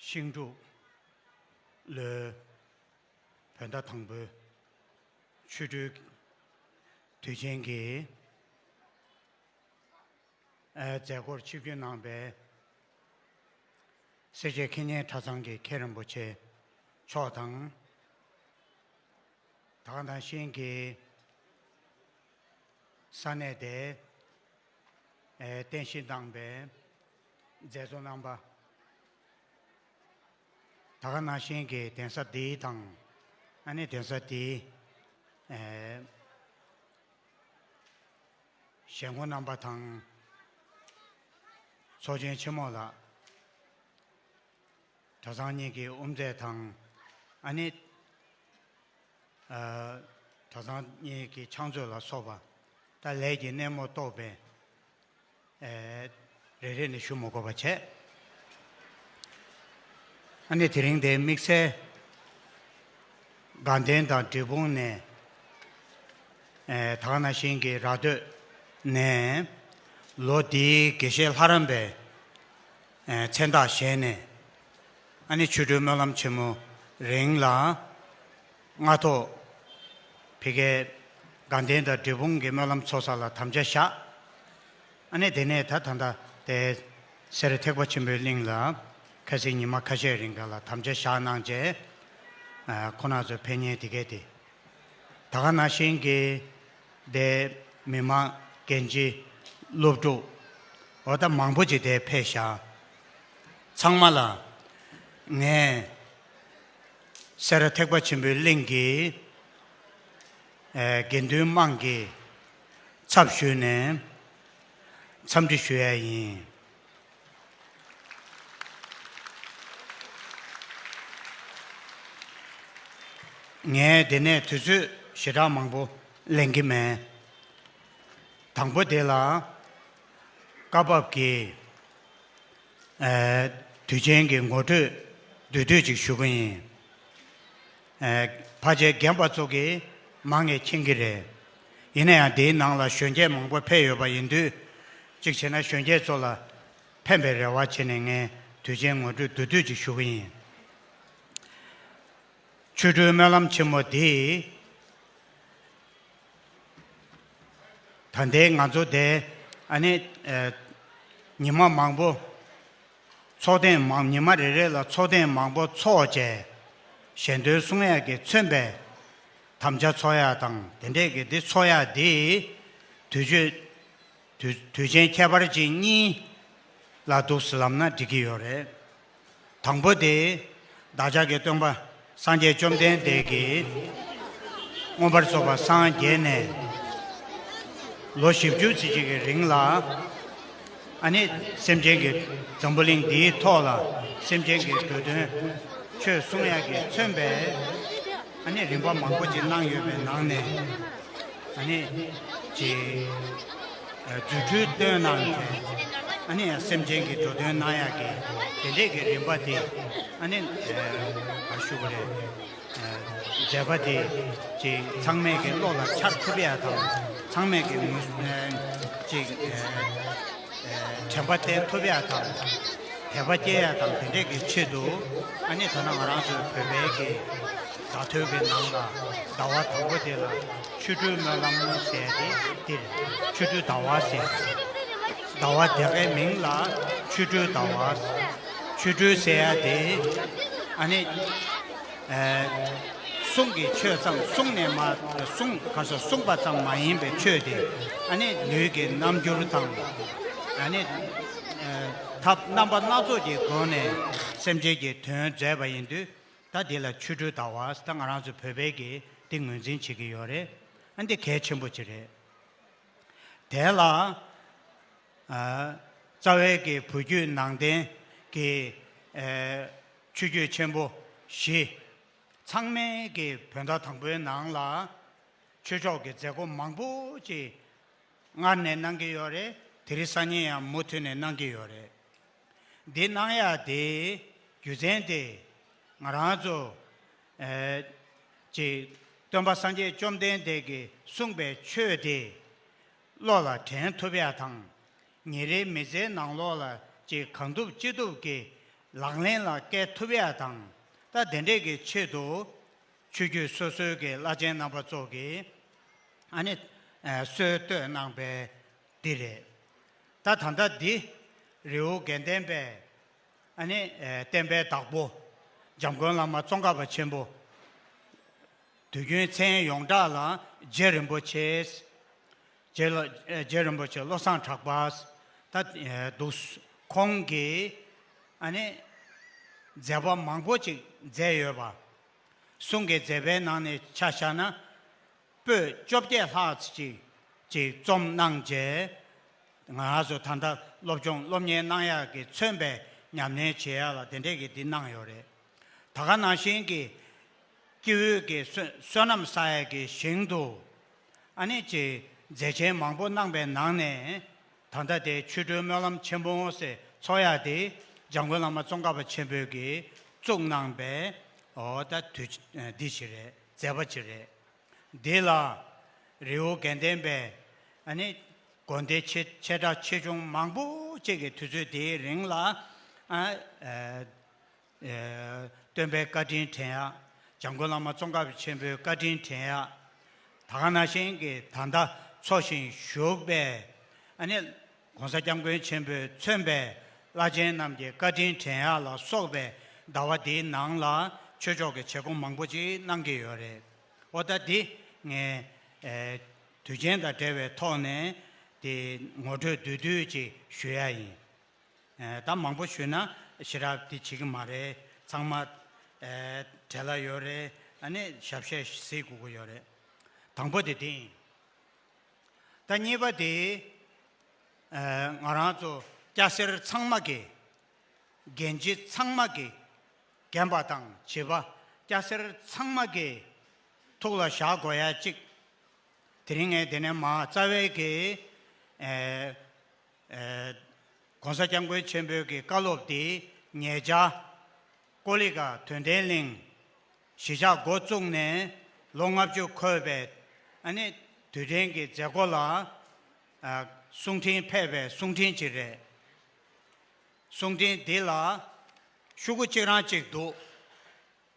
ཤིང་འབྲུག། ལོའི། བོད་ཟླ་དང་པོའི། ཆུ་སྦྲུལ། དུས་ཆེན་གྱི། མཛད་སྒོར་ཆིབས་བསྒྱུར་གནང་པའི། སེར་བྱེས་མཁས་སྙན་གྲྭ་ཚང་གི་མཁན་རིན་པོ་ཆེ་མཆོག་དང། དག་དང་ཤིང་གི། ས་གནས་དེ། རྟེན་གཞི་བཏང་པའི། མཛད་གཙོ་གནང་པ། ད་ག་ན་གཤེན་གྱི་གདན་ས་འདི་དང། ཨ་ནེ་གདན་ས་འདི། ཞལ་མགོ་གནང་པ་དང། ཚོགས་ཆེན་ཆེན་མོ་ལ། གྲྭ་ཚང་གཉིས་ཀྱི་དབུ་མཛད་དང། ཨ་ནེ། གྲྭ་ཚང་གཉིས་ཀྱི་ཕྱག་མཛོད་ལ་སོགས་པ། ད་ལས་ཀྱི་སྣེ་མོ་རྟོགས་པའི། རེ་རེ་ནས་ཞུ་མོ་དགོས་པ་བྱས། ཨ་ནེ་དེ་རིང་དེའི་དམིགས་བསལ། དགའ་ལྡན་དང་འབྲས་སྤུངས་ནས། དག་ན་ཤིང་གི་ར་སྟོད་ནས། ལོ་འདིའི་དགེ་བཤེས་ལྷ་རམས་པའི། མཚན་རྟགས་བཞེངས་ནས། ཨ་ནེ་ཆོས་སྒྲོན་སྨོན་ལམ་ཆེན་མོ་རིང་ལ། ལྔ་ཐོག་བི་གའི་དགའ་ལྡན་དང་འབྲས་སྤུངས་ཀྱི་སྨོན་ལམ་ཚོགས་བསགས་ལ་དམ་བཅའ་བཞག། ཨ་ནེ་དེ་ནས་ད་ད་ལྟ་དེ་སེར་ཐེག་པ་ཆེན་པོའི་གླིང་ལ་ཁ་སིའི་ཉི་མ་ཁ་ཤས་རིང་ག་ལ་དམ་བཅའ་བཞག་གནང་རྗེས། ཁོ་ན་ཚོའི་ཕན་ཉེས་དེ་གས་ཏེ། ད་ག་ན་བཞིན་གྱི་སྡེ་མི་མང་རྒན་བྱིས་སློབ་ཕྲུག་འོ་ད་མང་པོ་ཅིག་དེ་ཕེ་བཞག། ཚང་མ་ལ་ངས། སེ་ར་ཐེག་པ་ཆེན་པོའི་གླིང་གི་དགེ་འདུན་དམངས་ཀྱི་ཚབ་ཞུས་ནས་འཚམས་འདྲི་ཞུ་ཡ་ཡིན། ངས་འདི་ནས་དུས་ཚོད་ཞེ་དྲག་མང་པོ་ལེན་གྱི་མེད། དང་པོ་དེ་ལ་སྐབས་བབ་ཀྱི་དུས་ཆེན་གྱི་ངོ་སྤྲོད་བསྡུས་གྲོས་ཅིག་ཞུ་གི་ཡིན། བྷ་ཇའི་རྒན་པ་ཚོ་གིས་མང་ངེས་མཁྱེན་གྱི་རེད། ཡིན་ན་ཡང་དེའི་ནང་ལ་གཞོན་སྐྱེས་མང་པོ་ཕེབས་ཡོད་པ་ཡིན་དུས། གཅིག་བྱས་ན་གཞོན་སྐྱེས་ཚོ་ལ་ཕན་པའི་རེ་བ་བྱས་ནས་ངས་དུས་ཆེན་ངོ་སྤྲོད་བསྡུས་གྲོས་ཅིག་ཞུ་གི་ཡིན། ཆོས་སྤྲུལ་སྨོན་ལམ་ཆེན་མོ་འདིས། ད་ལྟའི་ང་ཚོ་དེ་ནི་ཉི་མ་མང་པོ་འཚོགས་ཐེངས་མང་ཉི་མ་རེ་རེ་ལ་འཚོགས་ཐེངས་མང་པོ་འཚོགས་བཅས་གཞན་དོན་གསུང་ཡག་གིས་མཚོན་པའི་དམ་བཅའ་འཚོགས་ཡག་དང་དེ་འདྲས་ཀྱི་འདི་འཚོགས་ཡག་འདིས་དུས་ཆོས། དུས་ཆེན་ཁྱད་པར་ཅན་གཉིས་ལ་འདུག་ཟེར་ལབ་ན་འགྲིག་གི་ཡོད་རེད། དང་པོ་དེ། བདག་ཅག་གི་སྟོན་པ་སངས་རྒྱས་བཅོམ་ལྡན་འདས་ཀྱིས་མངོན་པར་རྫོགས་པ་སངས་རྒྱས་ནས་ལོ་བཞི་བཅུ་ཚེ་གཅིག་གི་རིང་ལ། ཨ་ནི་སེམས་ཅན་གྱི་འཛམ་བུ་གླིང་འདིའི་ཐོག་ལ་སེམས་ཅན་གྱི་འདོད་དོན་ཆོས་གསུང་ཡག་གི་མཚོན་པའི་ཨ་ནི་རིམ་པ་མང་པོ་ཅིག་གནང་ཡོད་པའི་ནང་ནས། ནི། ཅེས་རྫུ་འཕྲུལ་སྟོན་གནང་མཛད། ནི་སེམས་ཅན་གྱི་འགྲོ་དོན་གནང་ཡག་གི། དེ་འདྲས་ཀྱི་རིམ་པ་དེ། ནི། ཞུ་བ་རེད། མཛད་པ་དེ། ཅིག་ཚང་མས་ཀྱི་བློ་ལ་འཆར་ཐུབ་ཡག་དང། ཚང་མས་ཀྱི་ངོས། ཅིག། དྲན་པ་བརྟན་ཐུབ་ཡག་དང། དད་པ་སྐྱེ་ཡག་དང་དེ་འདྲས་ཀྱི་ཆེད་དུ། ནི་ད་ནང་ང་རང་ཚོའི་བོད་པའི་ཀྱི། བརྡ་ཐོའི་གི་ནང་ལ་ཟླ་བ་དང་པོ་དེ་ལ་ཆུ་སྤྲུལ་སྨོན་ལམ་ཟས་ཏེ་འདིར་ཆུ་སྤྲུལ་ཟླ་བ་ཟས་སོ། ཟླ་བ་དེ་གའི་མིང་ལ་ཆུ་སྤྲུལ་ཟླ་བ་ཟས། ཆུ་སྤྲུལ་ཟས་ཡ་དེ་ཨ་ནི་གསུང་གི་ཆོས་ཙམ་གསུང་ནས་མ་གསུང་ག་སོ་གསུང་པ་ཙམ་མ་ཡིན་པའི་ཆོས་དེ་ཨ་ནི་ལུས་ཀྱི་རྣམ་འགྱུར་དང་ཨ་ནི་ཐབས་རྣམ་པ་སྣ་ཚོགས་ཀྱི་སྒོ་ནས་སེམས་ཅན་གྱི་དོན་མཛད་པ་ཡིན་དུས་ད་འདི་ལ་ཆུ་དྲོད་ད་བར་ད་ང་རང་ཚོ་བོད་པས་ཀྱིས་འདི་ངོས་འཛིན་བྱེད་ཀྱི་ཡོད་རེད། ཨ་འདི་གལ་ཆེན་པོ་གཅིག་རེད། དེ་ལ། རྩ་བའི་ཀྱི་བུ་རྒྱུད་ནང་བསྟན་གྱི། ཆོས་རྒྱུད་ཆེན་པོ་བཞི། ཚང་མས་ཀྱི་བོད་ཟླ་དང་པོའི་ནང་ལ། ཆོས་ཕྱོགས་ཀྱི་མཛད་སྒོ་མང་པོ་ཅིག་སྔར་ནས་གནང་གི་ཡོད་རེད། དེ་རིང་སང་ཉིན་ཡང་མུ་མཐུད་ནས་གནང་གི་ཡོད་རེད། འདི་སྣང་ཡ་དེའི་རྒྱུ་མཚན་ཏེ། ང་རང་ཚོ། ཅེས། སྟོན་པ་སངས་རྒྱས་བཅོམ་ལྡན་འདས་ཀྱིས་གསུངས་པའི་ཆོས་དེ། བློ་ལ་དྲན་ཐུབ་ཡ་དང། ཉིན་རེའི་མི་ཚེའི་ནང་ལོགས་ལ་ཅི་གང་ཐུབ་ཅི་ཐུབ་ཀྱིས་ལག་ལེན་ལ་བཀལ་ཐུབ་ཡ་དང། ད་དེ་འདྲས་ཀྱི་ཆེད་དུ། ཆོས་བརྒྱུད་སོ་སོའི་ཀྱི་བླ་ཆེན་རྣམ་པ་ཚོ་གིས། ཨ་ནི། སྲོལ་གཏོད་གནང་པའི། འདི་རེད། ད་ད་ལྟ་འདི། རེའུ་རྒན་བསྟན་པའི། ཨ་ནི། བསྟན་པའི་བདག་པོ། འཇམ་མགོན་བླ་མ་ཙོང་ཁ་པ་ཆེན་པོ། དུས་རྒྱུན་མཚན་ཡོངས་གྲགས་ལ་རྗེ་རིན་པོ་ཆེས། རྗེ་རིན་པོ་ཆེ་བློ་བཟང་གྲགས་པས་ད་འདུག། ཁོང་གིས། ཨ་ནི། མཛད་པ་མང་པོ་ཅིག་མཛད་ཡོད་པ། གསུང་གི་མཛད་པའི་ནང་ནས་ཆ་བཞག་ན། པོད་བཅོ་བརྒྱད་ལྷག་ཅིག་ཅིག་རྩོམ་གནང་རྗེས། ང་ཚོ་ད་ལྟ་སློབ་སྦྱོང་སློབ་གཉེར་གནང་ཡག་གི་མཚོན་པའི་ཉམས་ལེན་བྱེད་ཡག་ལ་དེ་འདྲས་ཀྱི་འདི་གནང་ཡོད་རེད། ད་ག་ནང་བཞིན་གྱི་དཀྱིལ་འོད་ཀྱི་བསོད་ནམས་ས་ཡ་གི་ཞིང་དུ། ཨ་ནེ་ཅིག་མཛད་ཆེན་མང་པོ་གནང་པའི་ནང་ནས། ད་ལྟ་དེ་མཆོད་སྤྲུལ་སྨོན་ལམ་ཆེན་པོ་ངོ་སེ་ཚོགས་ཡག་དེ་འཇང་དགུན་བླ་མ་ཙོང་ཁ་པ་ཆེན་པོས་ཀྱིས་བཙུགས་གནང་པའི་འོ་ད་དུས་འདི་ཞིག་རེད། མཛད་པ་ཅི་རེད། འདི་ལ་རི་བོ་དགེ་ལྡན་པས་ཨ་ནི། དགོན་སྡེ་ཆེ་ཆེ་གྲ་ཆེ་ཆུང་མང་པོ་གཅིག་གི་དུས་ཚོད་དེའི་རིང་ལ། སྟོན་པའི་བཀའ་དྲིན་དྲན་ཡ། འཇམ་མགོན་བླ་མ་ཙོང་ཁ་བ་ཆེན་པོའི་བཀའ་དྲིན་དྲན་ཡ། ད་ག་ན་ཤིང་གི་ད་ཟླ་འཚོ་ཞིང་བཞུགས་པའི་ཨ་ནི། ྋགོང་ས ྋསྐྱབས་མགོན་ཆེན་པོས་མཚོན་པའི་བླ་ཆེན་རྣམས་ཀྱི་བཀའ་དྲིན་དྲན་ཡག་ལ་སོགས་པའི་ཟླ་བ་འདིའི་ནང་ལ་ཆོས་ཕྱོགས་ཀྱི་བྱེད་སྒོ་མང་པོ་ཅིག་གནང་གི་ཡོད་རེད། འོ་ད་འདི་ངས་དུས་ཆེན་དང་འབྲེལ་བའི་ཐོག་ནས་དེ་ངོ་སྤྲོད་བསྡུས་བསྡུས་ཅིག་ཞུ་ཡ་ཡིན། ད་མང་པོ་ཞུས་ན་ཞེ་དྲག་དེ་བྱེད་ཀྱི་མ་རེད་ཚང་མ་དྲན་ལ་ཡོད་རེད་ཨ་ནི་ཞབས་བཤད་གཟིགས་དགོས་ཀྱི་ཡོད་རེད། དང་པོ་དེ་འདི་ཡིན། ད་གཉིས་པ་དེ། ང་རང་ཚོ་སྐྱ་སེར་ཚང་མ་གི། འགན་གཅིག་ཚང་མ་གི། རྒན་པ་དང་བྱིས་པ་སྐྱ་སེར་ཚང་མ་གི། ཐུགས་ལ་བཞག་དགོས་ཡ་གཅིག། དེ་རིང་ངས་དེ་ནས་མ་རྩ་བའི་གི། ྋགོང་ས ྋསྐྱབས་མགོན་ཆེན་པོའི་གི་བཀའ་སློབ་དེ། ྋརྙེད་བྱ། ཀོ་ལི་ཀ་དོན་ལྡན་གླིང། གཞིས་ཆགས་མགོ་བཙུགས་ནས་ལོ་ལྔ་བཅུ་འཁོར་བའི་དུས་དྲན་གྱི་མཛད་སྒོ་ལ་གསུང་འཕྲིན་ཕེབས་པའི་གསུང་འཕྲིན་གཅིག་རེད། གསུང་འཕྲིན་འདི་ལ་ཤུག་གུ་གཅིག་རང་གཅིག་འདུག་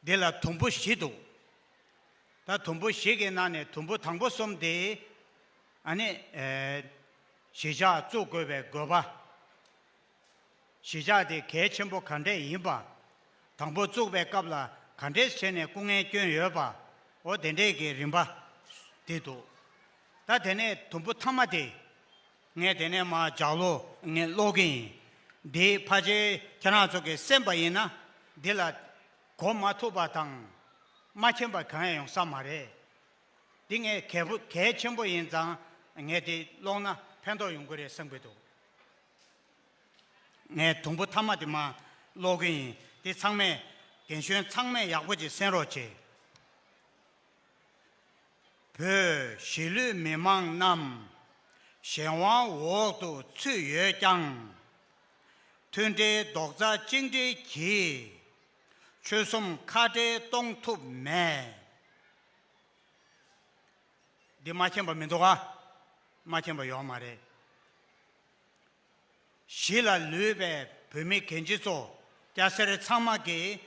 འདི་ལ་དུམ་བུ་བཞི་འདུག་ད་དུམ་བུ་ཞིག་གི་ནང་ནས་དུམ་བུ་དང་པོ་གསུམ་དེ་གཞིས་ཆགས་བཙུགས་དགོས་པའི་དགོས་པ། གཞིས་ཆགས་དེ་གལ་ཆེན་པོ་ག་འདྲས་ཡིན་པ། དང་པོ་བཙུགས་པའི་སྐབས་ལ་ག་འདྲས་བྱས་ནས་སྐུ་ངལ་བསྐྱོན་ཡོད་པའོ་དེ་འདྲས་ཀྱི་རིམ་པ་དེ་འདུག་ད་དེ་ནས་དུམ་བུ་ཐ་མ་དེ། ངས་དེ་ནས་མ་ཇག་ལོ། ངས་ཀློག་གི་ཡིན། འདིའི་ཕ་ཆེ་ཁྱེད་རང་ཚོ་གི་སེམས་པ་ཡིན་ན་འདི་ལ། གོ་མ་ཐུབ་པ་དང། མ་མཁྱེན་པ་གང་ཡང་ཡོང་ས་མ་རེད། འདི་ངས་གལ་ཆེན་པོ་ཡིན་ཙང་ངས་འདི་ཀློག་ན་ཕན་ཐོགས་ཡོང་གི་རེད་བསམ་གི་འདུག། ངས་དུམ་བུ་མཐའ་མ་དེ་མ་ཀློག་གི་ཡིན་དེ་ཚང་མས། རྒན་གཞོན་ཚང་མས་ཡག་པོ་གཅིག་གསན་རོགས་བྱེད། བོད་གཞིས་ལུས་མི་མང་རྣམས། གཞན་དབང་འོག་ཏུ་ཚུད་ཡོད་ཀྱང། མཐུན་སྒྲིལ་རྡོག་རྩ་གཅིག་སྒྲིལ་གྱིས། ཆོལ་གསུམ་ཁ་བྲལ་གཏོང་ཐུབ་མེད། འདི་མ་མཁྱེན་པ་མི་འདུག་ག། མ་མཁྱེན་པ་ཡོད་མ་རེད། གཞིས་ལ་ལུས་པའི་བོད་མི་གན་རྒྱ་ཚོ་སྐྱ་སེར་ཚང་མ་གིས་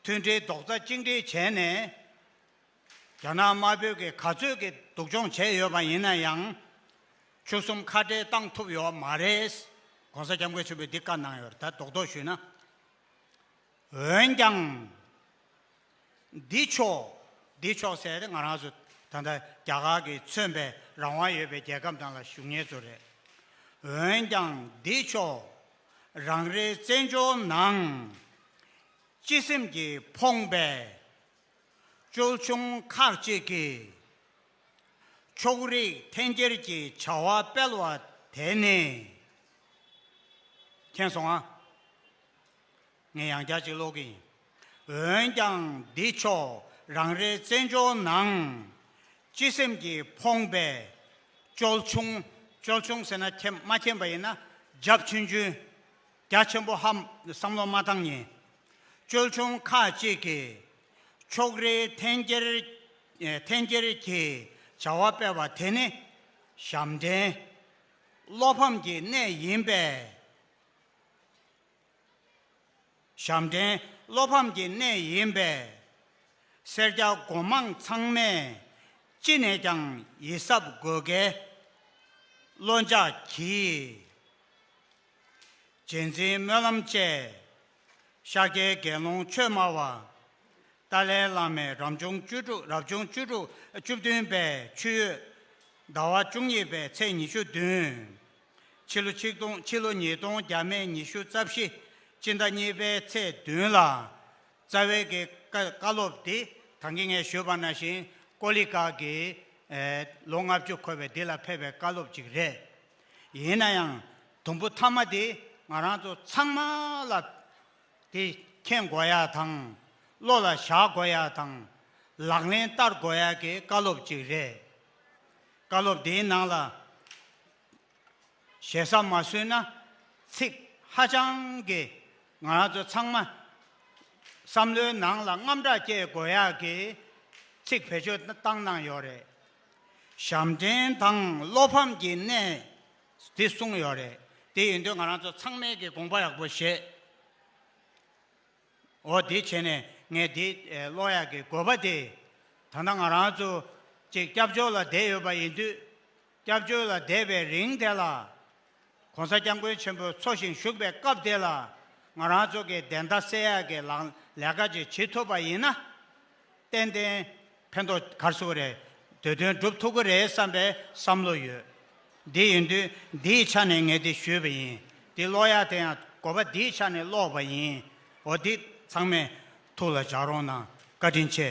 མཐུན་སྒྲིལ་རྡོག་རྩ་གཅིག་སྒྲིལ་བྱས་ནས་རྒྱ་ནག་དམར་པོའི་གིས་ག་ཚོད་ཀྱི་སྡུག་སྦྱོང་བྱས་ཡོད་པ་ཡིན་ན་ཡང་ཆུ་གསུམ་ཁ་བྲལ་བཏང་ཐུབ་ཡོད་མ་རེད། ྋགོང་ས ྋསྐྱབས་མགོན་ཆེན་པོས་འདི་བཀའ་གནང་ཡོད་རེད་ད་རྡོག་རྡོག་ཞུས་ན་འོན་ཀྱང། འདི་ཕྱོགས་འདི་ཕྱོགས་ཟེར་ཏེ་ང་རང་ཚོ་ད་ལྟ་རྒྱ་གར་གྱི་མཚོན་པའི་རང་དབང་ཡོད་པའི་རྒྱལ་ཁབ་ནང་ལ་བཞུགས་ངེས་ཚོ་རེད། འོན་ཀྱང་འདི་ཕྱོགས་རང་རེའི་བཙན་བྱོལ་ནང། སྤྱི་སེམས་ཀྱིས་ཕོངས་པའི་ཅོལ་ཆུང་ཁག་ཅིག་གིས། ཕྱོགས་རིས་འཐེན་འཁྱེར་གྱི་བྱ་བ་སྤེལ་བ་དེ་ནི། མཁྱེན་སོང་ཨ། ངས་ཡང་བསྐྱར་ཅིག་ཀློག་གི་ཡིན། འོན་ཀྱང་འདི་ཕྱོགས་རང་རེའི་བཙན་བྱོལ་ནང། སྤྱི་སེམས་ཀྱིས་ཕོངས་པའི། ཅོལ་ཆུང། ཅོལ་ཆུང་ཟེར་ན་ཁྱེད་མ་མཁྱེན་པ་ཡིན་ན། རྒྱབ་ཆུན་ཆུན། རྒྱ་ཆེན་པོ་ཧ། བསམ་བློ་མ་བཏང་ཉིན། ཅོལ་ཆུང་ཁ་ཅིག་གིས། ཕྱོགས་རེའི་འཐེན་འཁྱེར། འཐེན་འཁྱེར་གྱི་བྱ་བ་སྤེལ་བ་དེ་ནི། ཞབས་འདྲེན། བློ་ཕམ་གྱི་གནས་ཡིན་པས། ཞབས་འདྲེན་བློ་ཕམ་གྱི་གནས་ཡིན་པས། སེར་སྐྱ་སྒོ་མང་ཚང་མས་ཅི་ནས་ཀྱང་ཡིད་གཟབ་དགོས་གལ། བློ་འཇགས་གྱིས། རྗེས་འཛིན་སྨོན་ལམ་བཅས། ཤཱཀྱའི་དགེ་སློང་ཆོས་སྨྲ་བ། ཏཱ་ལའི་བླ་མའི་རབ་བྱུང་བཅུ་དྲུག་རབ་བྱུང་བཅུ་དྲུག་བཅུ་བདུན་པའི་ཆུ་ཡོས་ཟླ་བ་བཅུ་གཉིས་པའི་ཚེས་ཉི་ཤུ་བདུན། ཕྱི་ལོ་ཆིག་སྟོང་ཕྱི་ལོ་ཉིས་སྟོང་བརྒྱ་མན་ཉི་ཤུ་རྩ་བཞི་སྤྱི་ཟླ་གཉིས་པའི་ཚེས་བདུན་ལ། རྩ་བའི་གི་ཀ་བཀའ་སློབ་འདི་དང་གི་ངས་ཞུས་པ་ན་ཞིང་ཀོ་ལི་ཀ་གི། ལོ་ལྔ་བཅུ་འཁོར་བའི་འདི་ལ་ཕེབས་པའི་བཀའ་སློབ་ཅིག་རེད། ཡིན་ན་ཡང་དུམ་བུ་ཐ་མ་འདི་ང་རང་ཚོ་ཚང་མ་ལ་དེ་མཁྱེན་དགོས་ཡ་དང། བློ་ལ་བཞག་དགོས་ཡ་དང། ལག་ལེན་བསྟར་དགོས་ཡ་གི་བཀའ་སློབ་ཅིག་རེད། བཀའ་སློབ་དེའི་ནང་ལ་ཞེ་ས་མ་བཟོས་ན་ཚིག་ཧ་ཅང་གི་ང་རང་ཚོ་ཚང་མ་བསམ་བློའི་ནང་ལ་རྔམ་སྐྲག་སྐྱེ་དགོས་ཡག་གི་ཚིག་བེད་སྤྱོད་བཏང་གནང་ཡོད་རེད། ཞབས་འདྲེན་དང་བློ་ཕམ་གྱི་གནས་དེ་གསུངས་ཡོད་རེད་དེ་ཡིན་དུས་ང་རང་ཚོ་ཚང་མས་གི་དགོངས་པ་ཡག་པོ་བཞེས། འོ་དེ་བྱས་ནས་ངས་དེ་གློག་ཡག་གི་དགོས་པ་དེ། ད་ལྟ་ང་རང་ཚོ་གཅིག་སྐྱབས་བཅོལ་ལ་བསྡད་ཡོད་པ་ཡིན་དུས། སྐྱབས་བཅོལ་ལ་བསྡད་པའི་རིང་དེ་ལ། ྋགོང་ས ྋསྐྱབས་མགོན་ཆེན་པོ་འཚོ་ཞིང་བཞུགས་པའི་སྐབས་དེ་ལ། ང་རང་ཚོ་གི་བདེན་མཐའ་གསལ་ཡག་གི་ལག་ལས་ཀ་ཅིག་བྱེད་ཐུབ་པ་ཡིན་ན། ཏན་ཏན་ཕན་ཐོགས་གར་སོང་རེད། དེ་དོན་སྒྲུབ་ཐུབ་ཀྱི་རེད་བསམ་པའི་བསམ་བློ་ཡོད། དེ་ཡིན་དུས་འདིའི་ཆ་ནས་ངས་དེ་ཞུས་པ་ཡིན། དེ་ཀློག་ཡག་དེ་ཡང་གོ་བ་འདིའི་ཆ་ནས་ཀློག་པ་ཡིན། འོ་འདི་ཚང་མས་ཐུགས་ལ་འཇགས་རོགས་གནང། བཀའ་དྲིན་ཆེ།